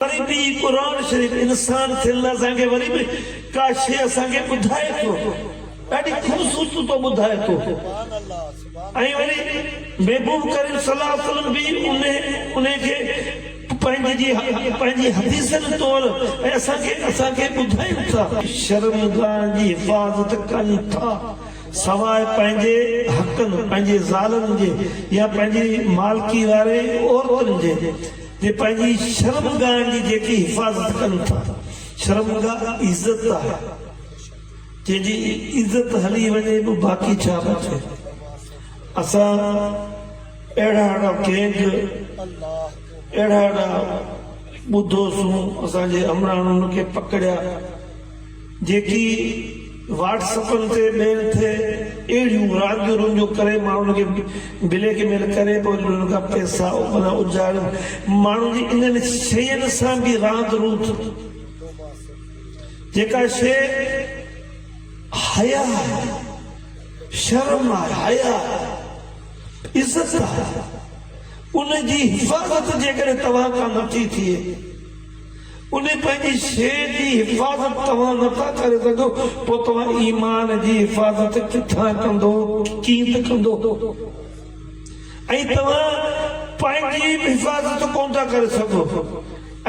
وري به هي قرآن شريف انسان ٿيل اسان کي وري به ڪا شيء اسان کي ٻڌائي ٿو ڏاڍي خوبصورت تو ٻڌائي ٿو ۽ وري محبوب ڪريم صلي الله عليه وسلم به انهي کي پنهنجي جي پنهنجي حديثن طور ۽ اسان کي اسان کي ٻڌائين ٿا. شرم گاهن جي حفاظت ڪن ٿا سواء پنهنجي حقن پنهنجي زالن جي يا پنهنجي مالڪي واري عورتن جي. جي پنهنجي شرمگاهن جي جيڪي حفاظت ڪن ٿا، شرمگاهه عزت آهي، جنهن جي عزت هلي وڃي به باقي ڇا بچي؟ اسان اهڙا اهڙا گينگ، اهڙا اهڙا ٻڌوسون، اسان جي همراهن ان کي پڪڙيا. جيڪي واٽس اپن تي ميل ٿئي اهڙيون رانديون رونديون ڪري ماڻهن کي بليڪ ميل ڪري پوء انهن کان پئسا اپنا اجارين ماڻهن جي انهن شين سان به راند روند جيڪا شي حيا آهي شرم آهي حيا آهي عزت آهي ان جي حفاظت جيڪڏهن توهان کان نٿي ٿئي ان پنهنجي شيء جي حفاظت توهان نه ٿا ڪري سگهو، پوء توهان ايمان جي حفاظت ڪٿان ڪندو؟ ڪيئن ته ڪندو؟ ۽ توهان پنهنجي به حفاظت ڪونه ٿا ڪري سگهو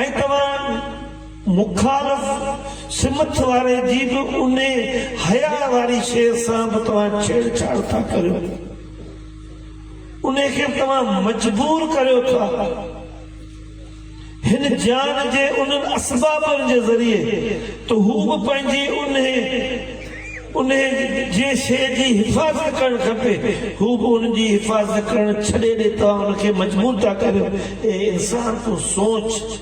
۽ توهان مخالف سمت واري جي به ان حياء واري شيء سان به توهان ڇيڙ ڇاڙ ٿا ڪريو. ان کي به توهان مجبور ڪريو ٿا. هن جيان جي انهن اسبابن جي ذريعي ته هو به پنهنجي انهي انهي جي شيء جي حفاظت ڪرڻ کپي، هو به ان جي حفاظت ڪرڻ ڇڏي ڏي توهان ان کي مجبور ٿا ڪريو. اي انسان تون سوچ!